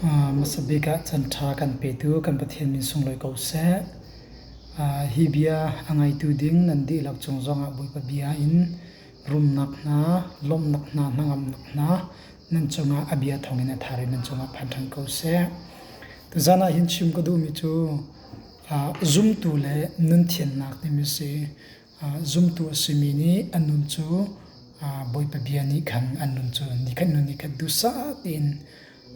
hmasa bik ah canṭha kan petu kan Pathian min sunglawi ko seh. hi bia a ngaitu ding nan dihlak cung zongah Bawipa bia in rumnak hna, lawmhnak hna, hnangamnak hna nan cungah a bia thawngin a thar i nan cungah phan ṭhan ko seh. Tuzan ah hin chim ka duhmi cu zumtu le nun thiannak timi a si. Zumtu a simi nih an nun cu Bawipa bia nih khan an nun cu nikhat hnu nikhat duhsah tein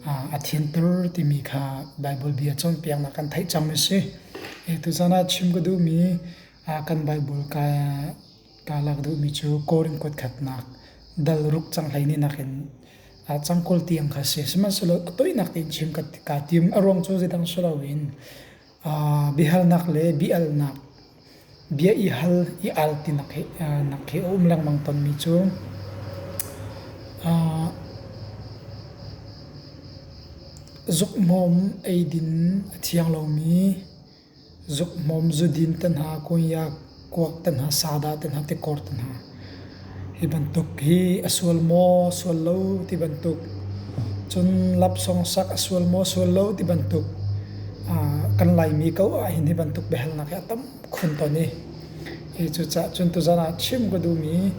a thianter timi kha Baibal bia cawnpiaknak kan theih cang a si. Tuzan ah chim ka duhmi kan Baibal ka lak duhmi cu Korin kutkhatnak dal ruk cang hleini nakin cangkul tiang kha si. Sihmanhsehlaw ka toinak tein chim kaa tim. A ruang cu zeidang si loin biahalnak le biaalnak Bia i hal i al ti na khi a um lengmang tawnmi cu zukhmawm eidin a thiang lomi, zukhmawm zudin te hna, kuak te hna, sa dah te hna, tikor te hna. Hi bantuk hi a sual maw sual lo ti bantuk, cun lapsong sak a sual maw sual lo ti bantuk, kan Laimi ko ahhin hi bantuk biahalnak hi a tam khun tawn i hi cucaah cun tuzan ah chim ka duhmi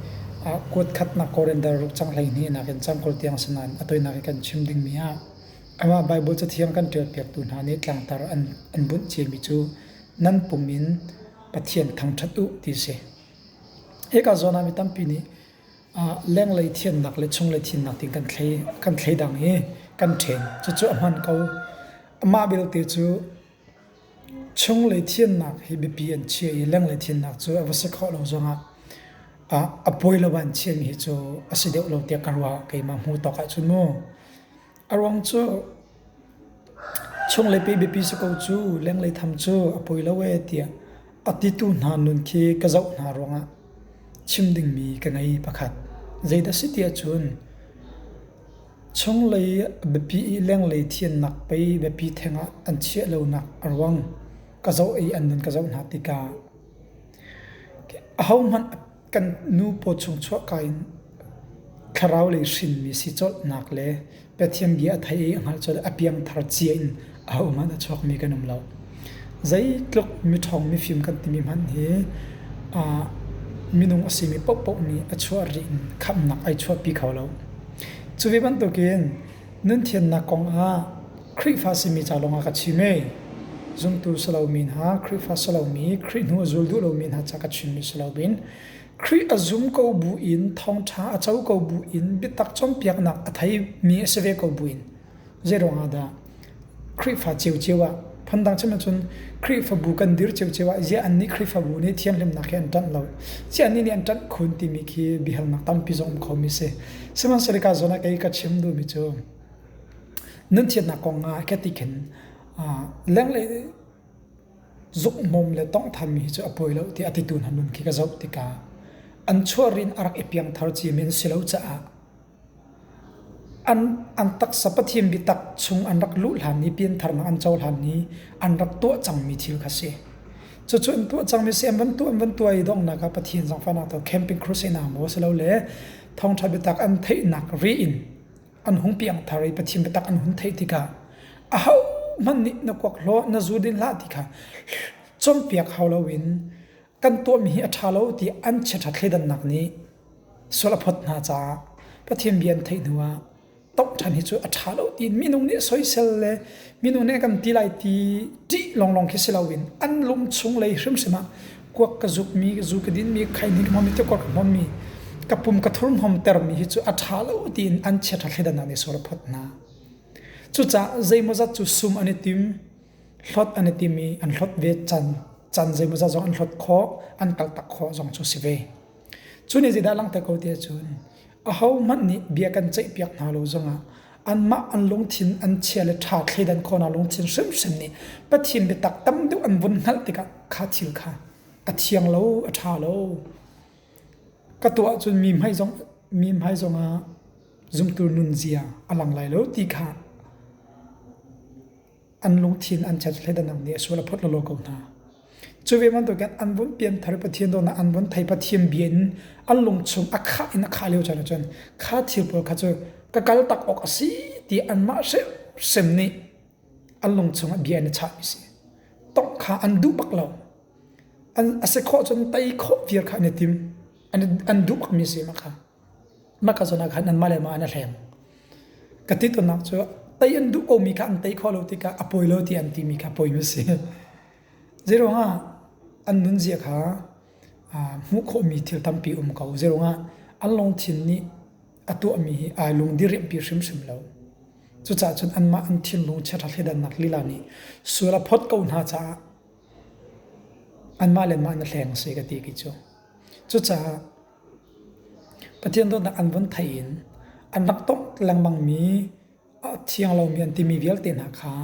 kuatkhatnak Korendar ruk cang hleihnih nakin Cangkor tiang si nain a tawinak hi kan chim dingmi ah amah Baibal Cathiang kan ṭialpiaktu hna nih tlangtar an bunh ciami cu nan pum in Pathian thangṭhat u ti a si. Hika zawn ah mi tampi nih lenglei thiannak le chunglei thiannak ti kan thlei kan thlei dang i kan ṭhen. Cucu a hman ko. Mah belte cu chunglei thiannak hi biapi an chia i lenglei thiannak cu a va si khawh lo zong ah a pawi lo ah an chiahmi hi cu a si deuh lo tiah ka ruah. Keimah hmuh tawk ahcun mu. A ruang cu chung le pe biapi si ko cu lenglei tham cu a poi lo ee tiah a titu hna nun khi ka zoh hna ruangah chim dingmi ka ngei pakhat. Zeidah si tiah cun chunglei biapi i lenglei thiannak pei biapi thengah an chiah lonak a ruang ka zoh i an nun ka zoh hna tikah ahohmanh kan nu paw chung chuah ka in thlarau lei hrinmi si colhnak le Pathian bia a thai i a hngalh col a piang thar cia in a um a chuak mi kan um lo zeitluk mi ṭhawng mi fim kan timi hman hi minung a simi pohpoh nih a chuah ri in khamnak ai chuahpi kho lo cu ve bantukin nun thiannak kong ah Khrihfa simi ca lawngah ka chim i zumtu si lomi hna, Khrihfa si lomi, Khrih hnu a zul duh lomi hna ca ka chim rih si loin Khrih a zum ko bu in thawngṭha a co ko bu in biatak cawnpiaknak a theimi a si ve ko bu in zei ruangah dah Khrihfa ciocio ah phundang chim ahcun Khrihfabu kan dir ciocio ah ziah annih Khrihfabu nih thianghlimnak hi an ṭanh lo ziah annih nih an ṭanh khun timi khi biahalnak tampi zong um khomi si sihmanhsehlaw ka zawn ah kei ka chim duhmi cu Nan thianhnak kong ah ka ti khin lenglei zukhmawm le tawnghthammi hi cu a pawi lo tiah a titu hna nun khi ka zoh tikah an chuahrin a rak i piangthar ciami an si lo caah an an taksa pathian biatak chung an rak luh hlan i piantharnak an co hlan i an rak tuah cangmi thil kha si. Cucu an tuah cangmi si an van tuah an van tuah i donghnak ah Pathian zangfahnak to camping crusade hna maw silole thawngṭha biatak an theihnak ri in an hung piang thar i Pathian biatak an hun theih tikah ahohmanh nih na kuak hlaw na zu din hlah ti kha cawmpiak hau loin kan tuahmi hi a ṭha lo ti an chiaṭha thleidannak nih sual a phawt hna caah Pathian bia an theih hnuah tawngh ṭhan hi cu a ṭha lo ti minung nih soisel le minung nih kan ti lai ti ṭih lawnglawng khi si loin an lung chung lei hrimhrim ah kuak ka zukmi zu ka dinmi khainik hmawmi te kuak ka hmawmmi ka pum ka thur hmawm termi hi cu a ṭha lo tiin an chiaṭha thleidannak nih sual a phawt hna. Cucaah zeimawzat cu sum an i tim, hlot an i tim i an hlot ve can, can zeimawzat zong an hlot khawh, an kaltak khawh zong cu si ve. Cun hi zeidah langhter ko ti ahcun ahohmanh nih bia kan ceihpiak hna lo zongah anmah an lungthin an chia le ṭha thleidan khawhnak lungthin hrimhrim nih Pathian biatak tam deuh an vun hngalh tikah kha thil kha a thiang lo, a ṭha lo. Ka tuah ahcun mi hmai zong mi hmai zongah zumtu nunzia a lang lai lo ti kha an lungthin an chat hlet anang nih sual a phot lolo ko hna cu ve man to kan an vun pian thar pathian do na an vun thai pathian bia in an lung chung a kha in a kha leo chan chan kha thil pawl kha chu ka kal tak ok asi ti an ma se sem ni an lung chung a bia na cha mi si tong kha an du bak lo an ase kho chun tai kho vir kha ne tim an du bak mi si ma kha Mah ka zawn ah khan anmah le mah an i hleng. Ka tit-unnak cu tei an duh komi kha an tei khawh lo tikah a pawi lo ti an timi kha poi a si. Zeiruangah an nunzia kha hmuh khawhmi thil tampi um ko. Zeiruangah an lungthin nih a tuahmi hi ai lungdiriamhpi hrimhrim lo. Cucaah cun anmah an thinlung chiaṭha thleidannak lila nih sual a phawt ko hna caah anmah le mah an i hleng a si ka ti khi cu. Cucaah Pathian dawtnak an vun theih in an rak tawk lengmangmi a thiang lomi an timi vialte hna kha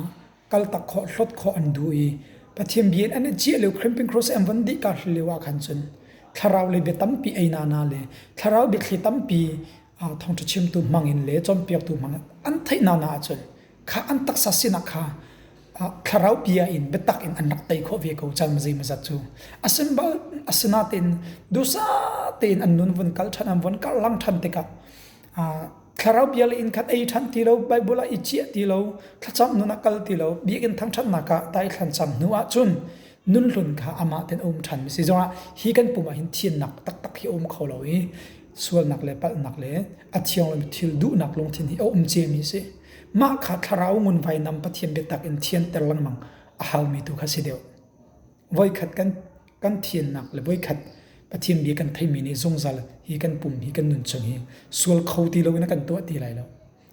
kaltak khawh, hlawt khawh an duh i Pathian bia in an i ciah lio Khrihfim Cross an vun dih kaa hrim lio ah khan cun thlarau lei bia tampi einak hna le thlarau biathli tampi ah thawngṭha chimtu hmangin le cawnpiaktu hmangin an theih nana ahcun kha an taksa sinak kha thlaraupi ah in biatak in an rak tei khawh ve ko cang mazi mazat cu asimbal asinatin dusa tein an nun vun kal ṭhan an vun karh lang ṭhan tikah thlaraupi le in khat ei ṭhan ti lo bible ah i ciah ti lo thlacam nun a kal ti lo biakin thangṭhatnak ah tai thlancham hnu ah cun nun hlun kha amah ten um ṭhan mi si zongah hi kan pum ah hin thiannak taktak hi um kho lo i sualnak le palhnak le a thiang lomi thil duhnak lungthin hi a um cemi a si. Mah kha thlarau ngun vainam pathian biatak in thianter lengmang a halmi tu kha si deuh. Voikhat kan kan thiannak le voikhat pathian bia kan theimi nih zungzal hi kan pum hi kan nun chung hi sual kho ti loin a kan tuah ti lai lo.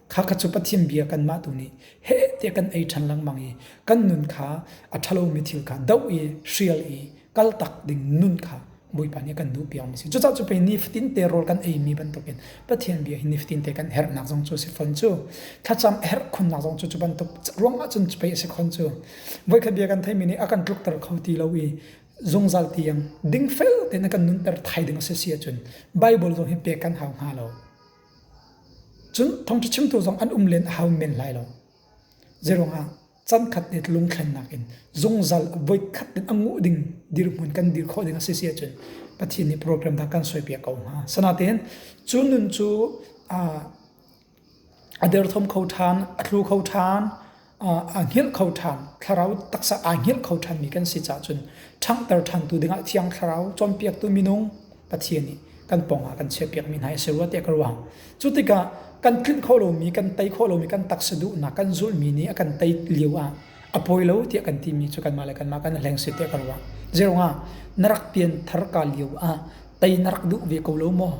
Kha kha cu Pathian bia kanmah tu nih he tiah kan ei ṭhan lengmang i kan nun kha a ṭhalomi thil kha doh i hrial i kal tak ding nun kha Bawipa nih a kan duh piak mi si. Cucaah cu pei nifatin te rawl kan ei mi bantukin Pathian bia hi nifatin te kan herhnak zong cu a si fawn cu. Thlacam a herh khunnak zong cu cu bantuk ruangah cun pei a si fawn cu. Voikhat bia kan theimi nih a kan tlukter kho ti lo i zungzal tiang dingfel tein a kan nunter thai ding a si si ahcun Baibal zong hi pek kan hau hnga lo. Cun thawngṭha chimtu zong an um len a hau men lai lo. Zeiruangah can khat i lungthlennak in zungzal voi khat in a nguh ding dirhmun kan dir khawh ding a si si ahcun Pathian nih program dah kan soipiak ko hnga. Sanatin cu nun cu a derthawm kho ṭhan, a tlu kho ṭhan, aa hngilh kho ṭhan. Thlarau taksa aa hngilh kho ṭhanmi kan si caahcun ṭhanghter ṭhantu dingah Thiang Thlarau cawnpiaktu minung Pathian nih kan pawngah kan chiahpiakmi hna hi a si rua tiah ka ruah. Cu tikah kan tlinh khawh lomi, kan tei khawh lomi, kan taksa duhnak, kan zulmi nih a kan tei lio ah a poi lo tiah kan timi cu kanmah le kanmah kan hleng si tiah ka ruah. Zeirongah na rak pianthar ka lio ah tei na rak duh ve ko lo maw?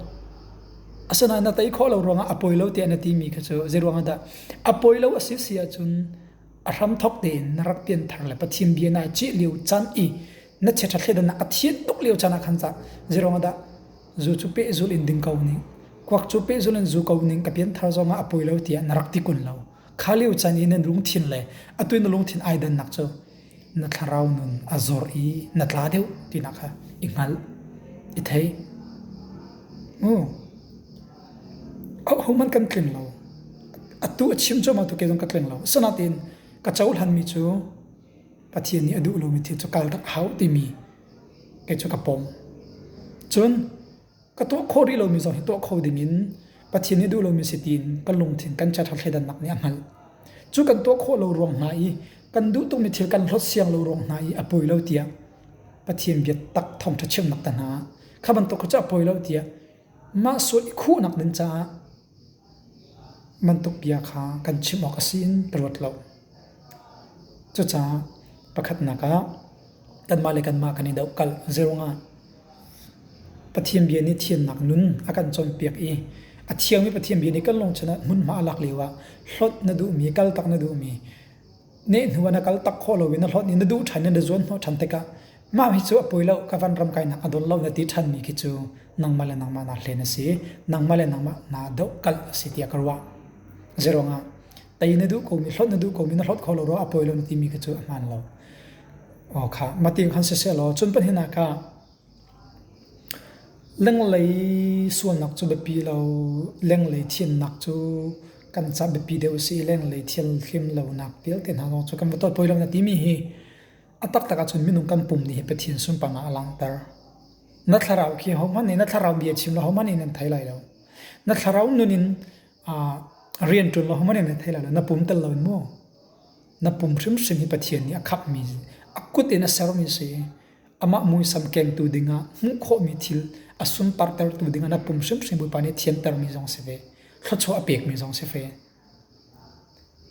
Asinain na tei khawh lo ruangah a poi lo tiah na timi kha cu zeiruangah dah A poi lo a si si ahcun a hramthawk tein na rak pianthar le Pathian bia na cih lio can i na chiaṭha thleidan ah a thian tuk lio can ah khan cah zeiruang ahdah zu cu pehzul in ding ko ning kuak cu pehzul in zu ko ning ka pianthar zong ah a poi lo tiah na rak ti kun lo kha lio can i nan lungthin le atu na lungthin ai dannak cu na thlarau nun a zor i na tla deuh tinak kha i hngalh i thei. Oh. Hohmanh kan tling lo. Atu a chim cuahmah tu ke zong ka tling lo. Sanatin ka cohlanmi cu Pathian nih a duh lomi thil cu kal dak hau timi kei cu ka pom. Cun Ka tuah kho rih lomi zong hi tuah kho ding in Pathian hi duh lomi si tiin kan lungthin kan cat thleidannak nih a hngalh. Cu kan tuah khawh lo ruang hna i kan duh tukmi thil kan hlawt siang lo ruang hna i a poi lo tiah Pathian biatak thawngṭha chimnak ta hna kha bantuk kha cu a poi lo tiah mah sual i khuhnak ding caah Bantuk bia kha kan chim awk a si in ka ruat lo. Cucaah pakhatnak ah kanmah le kanmah kan i dohkalh zei ruangah? Pathian bia nih thiannak nun a kan cawnpiak i a thiangmi Pathian bia nih kan lungchung ah hmunhma a lak lio ah hlawt na duhmi, kaltak na duhmi Ne hnuah na kal tak khawh loin na hlawt i na duh ṭhan in na zuanhnawh ṭhan tikah mah hi cu a poi lo, ka vanram kainak a dawt lo na ti ṭhanmi khi cu nangmah le nangmah naa hlen a si, nangmah le nangmah naa dohkalh a si tiah ka ruah. Zeiruangah tei na duh komi, hlawt na duh komi, na hlawt kho lo rua a poi lo na timi khi cu a hmaan lo. Aw kha, mah ti khan siseh law cun pahnih ah ka Lenglei sualnak cu biapi lo. Lenglei thiannak cu kan caah biapi deuh a si i lenglei thil hlim lonak vialte hna zong cu kan va tuah tawi lo na timi hi a taktak ahcun minung kan pum nih hi Pathian sunparnak a langhter. Na thlarau khi ahohmanh nih na thlarau bia chim lo ahohmanh nih nan thei lai lo. Na thlarau nun in rianṭuan lo ahohmanh nih nan thei lai lo. Na pum tel loin maw? Na pum hrimhrim hi Pathian nih a khakmi, a kut in a sermi a si i amah muisam kengtu dingah hmuh khawhmi thil a sunpartertu dingah na pum hrimhrim Bawipa nih thiantermi zong si ve thluachuah a pekmi zong si ve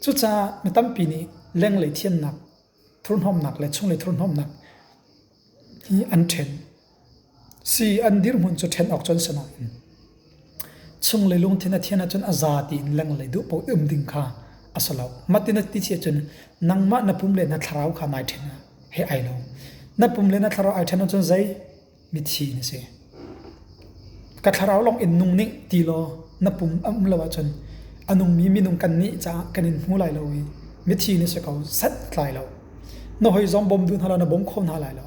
cucaah mi tampi nih lenglei thiannak thurhnawmnak le chunglei thurhnawmnak hi an ṭhen si an dirhmun cu ṭhen awk cun si lo Chung le lungthin a thian ahcun a za tiin lenglei duh paoh i um ding kha a si lo. Mah in a ti chih ahcun nangmah na pum le na thlarau kha nai ṭhen he ai lo. Na pum le na thlarau ai ṭhen ahcun zei mithi na si. Ka thlarau lawng in nung nih ti law na pum a um lo ahcun a nungmi minung kan nih caah kan in hmu lai lo i mithi na si ko set tlai lo. Na hoi zong bawm duh hna law na bawm kho hna lai lo.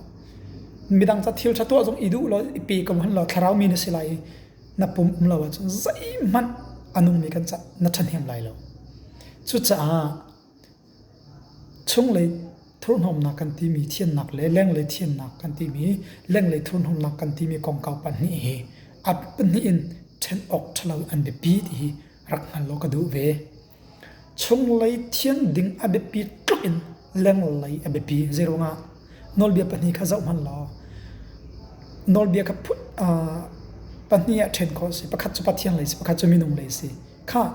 Midang ca thil ṭha tuah zong i duh law i pe ko hmanhlaw thlarau mi na si lai i na pum um lo ahcun zeihmanh a nungmi kan ca na ṭhahnem lai lo. Cucaah chunglei thurhnomnak kan timi thiannak le lenglei thiannak kan timi lenglei thurhnomnak kan timi kongkau pahnih hi a pahnih in ṭhen awk ṭhalo an biapi ti hi rak hngal law ka duh ve. Chunglei thian ding a biapi tluk in lenglei a biapi. Zeiruangah? Nawlbia pahnih kha zoh hmanh law nawlbia ka put pahnih ah ṭhen khawh a si. Pakhat cu Pathian lei a si, pakhat cu minung lei a si. Khah,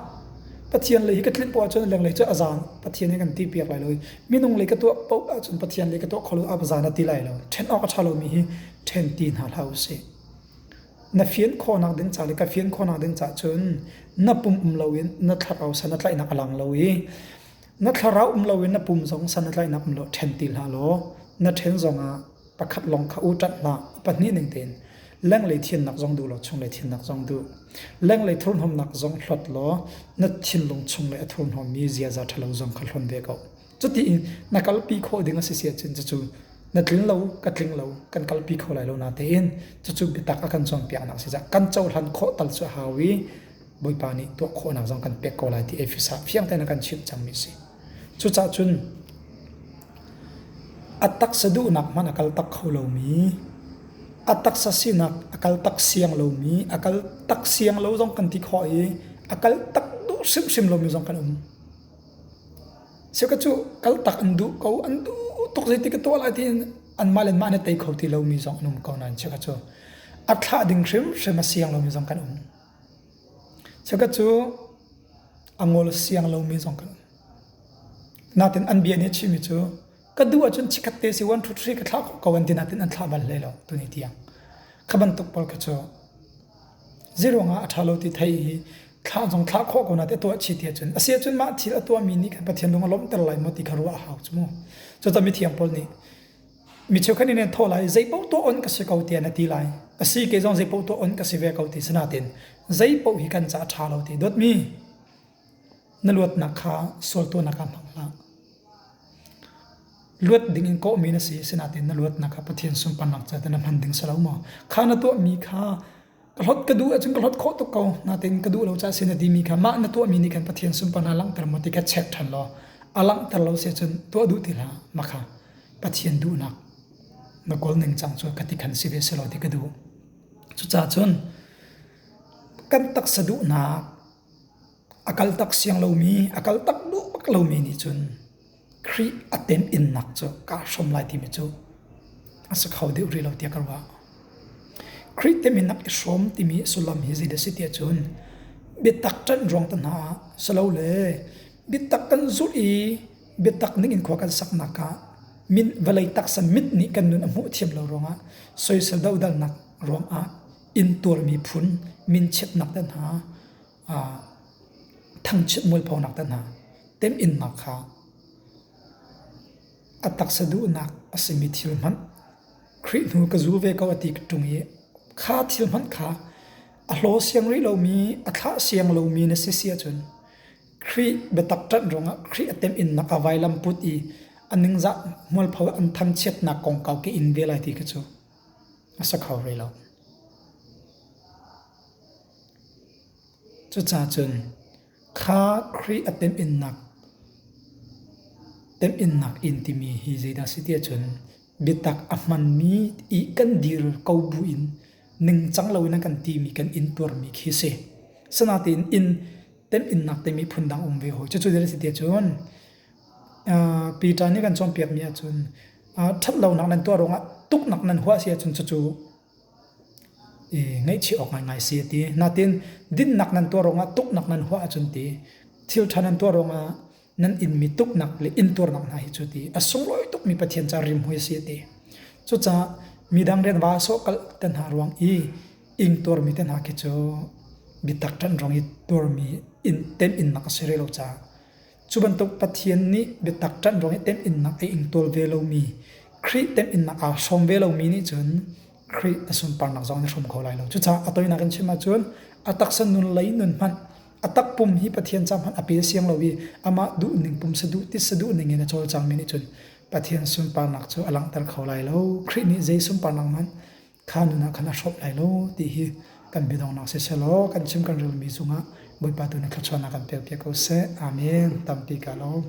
Pathian lei hi ka tlinh poh ahcun lenglei cu a zaan Pathian he kan ti piak lai lo i minung lei ka tuah poh ahcun Pathian lei ka tuah kho lo ah a zaan a ti lai lo. Ṭhen awk a ṭha lomi hi ṭhen ti hna hlah u sih. Na fian khawhnak ding ca le ka fian khawhnak ding ca cun na pum um loin na thlarau san a tlaihnak a lang lo i na thlarau um loin na pum zong san a tlaihnak um lo ṭhen ti hlah law na ṭhen zongah pakhat lawng kha u ṭat hlah pahnih ning tein lenglei thiannak zong duh law chunglei thiannak zong duh lenglei thurhnawmnak zong hlot law na thinlung chung le a thurhnawmmi ziaza ṭhalo zong kha hlon ve ko Cuti i na kalpi khawh ding a si si ahcun cucu na tling lo ka tling lo kan kalpi kho lai lo na tein cucu biatak a kan cawnpiaknak si cah kan cohlan khawh tal cu a hau i Bawipa nih tuah khawhnak zong kan pek ko lai ti Efesa fiang tein a kan chimh cangmi si. Cucah cun a taksa duhnak hman a kal tak kho lomi a taksa sinak a kal tak siang lomi a kal tak siang lo zong kan ti khawh i a kal tak duh hrimhrim lomi zong kan um. Cheu ka cu kaltak an duh ko. An duh tuk zeitik ka tuah lai tiin anmah le anmah nih tei kho ti lomi zong an um ko nain cheu ka cu a thlah ding hrimhrim a siang lomi zong kan um. Cheu ka cu a ngol siang lomi zong kan um. Natin an bia nih a chimmi cu ka duh ahcun chikhat te si one two three ka thlah ko an ti natin an thlah bal hlei lo tuni tiang. Kha bantuk pawl ka cu Zeiruangah a ṭha lo ti thei i thlah zong thlah khawh ko na ti tuah chih ti ahcun a si ahcun mah thil a tuahmi nih khan Pathian lung a lawmhter lai maw ti kha ruah a hau cu mu. Cucun mithiang Paul nih mi cheukhat nih nan thawh lai zeipaoh tuah on ka si ko tiah na ti lai a si ke zong zeipaoh tuah on ka si ve ko ti si natin zei paoh hi kan caah ṭha lo ti dawtmi Na luatnak kha sual tuahnak ah hmang hlah. Luat ding in kawhmi na si, asinain na luatnak kha Pathian sunparnak ca na hman ding salo maw? Kha na tuahmi kha ka hlot ka duh ahcun ka hlot khawh tuk ko. Natein ka duh lo caah sin a dimi kha mah na tuahmi nih khan Pathian sunparnak langhter maw ti kha check ṭhan law a langhter lo si ahcun tuah duh ti hlah. Maka Pathian duhnak na kawl ningcang cu ka ti khan si ve selaw ti ka duh. Cucaah cun kan taksa duhnak A kal tak siang lomi, a kal tak duh bak lomi nih cun Khrih a tenh-innak cu kaa hrawm lai timi cu a si kho deuh rih lo tiah ka ruah. Khrih teminnak i hrawm timi sullam hi zeidah a si tiah cun biatak ṭanh ruangte hna ah silole biatak kan zulh i biatak ningin khua kan saknak ah min vawlei taksa mit nih kan nun a hmuh thiam lo ruangah soisel dodalnak ruangah inn tual miphun minchiatnak te hna thangchiat mualphonak te hna temhinnak kha a taksa duhnak a simi thil hmanh Khrih hnu ka zu ve ko a ti ka ṭung i kha thil hmanh kha a hlaw siang rih lomi a thlah siang lomi na si si ahcun Khrih biatak ṭanh ruangah Khrih a temhinnak a vailam put i a ningzah mualpho an thangchiatnak kong kau ke in ve lai ti kha cu a si kho hlei lo. Cucacun kha Khrih a temhinnak temhinnak in timi hi zeidah si ti ahcun biatak a hmanmi i kan dir ko bu in ningcang loin a kan timi kan intuarmi khi si. Sinatein inn temhinnak timi phundang um ve hoi. Cucu dira si ti ahcun Piṭa nih kan cawnpiakmi ahcun ṭhatlonak nan tuah ruangah tuknak nan huah si ahcun cucu ngaihchih awk ngaingai si a ti. Natin dinnak nan tuah ruangah tuknak nan huah ahcun ti, thilṭha nan tuah ruangah nan inmi tuknak le intuarnak hna hi cu ti a sunglawi tukmi Pathian ca rimhmui a si a ti. Cucaah midang rian vasawh kalh te hna ruang i ingtuarmi te hna khi cu biatak ṭanh ruang i tuarmi temhinnak a si rih lo caah Cu bantuk Pathian nih biatak ṭanh ruangin temhinnak a ing tawl ve lomi, Khrih temhinnak aa hrawm ve lomi nih cun Khrih a sunparnak zong an hrum kho lai lo. Cucaah a toinak in chim ahcun a taksa nun lei nun hmanh, a takpum hi Pathian ca hmanh a pe siang lo i amah duhning pum saduh titsa duhning in a cawlcangmi nih cun Pathian sunparnak cu a langhter kho lai lo. Khrih nih zei sunparnak hmanh kha nunah khan a hrolh lai lo ti hi kan biadongnak sisehlaw kan chim kan relmi cungah Bawipa tu nih thluachuahnak kan pekpiak ko seh. Amen. Tampi ka lo.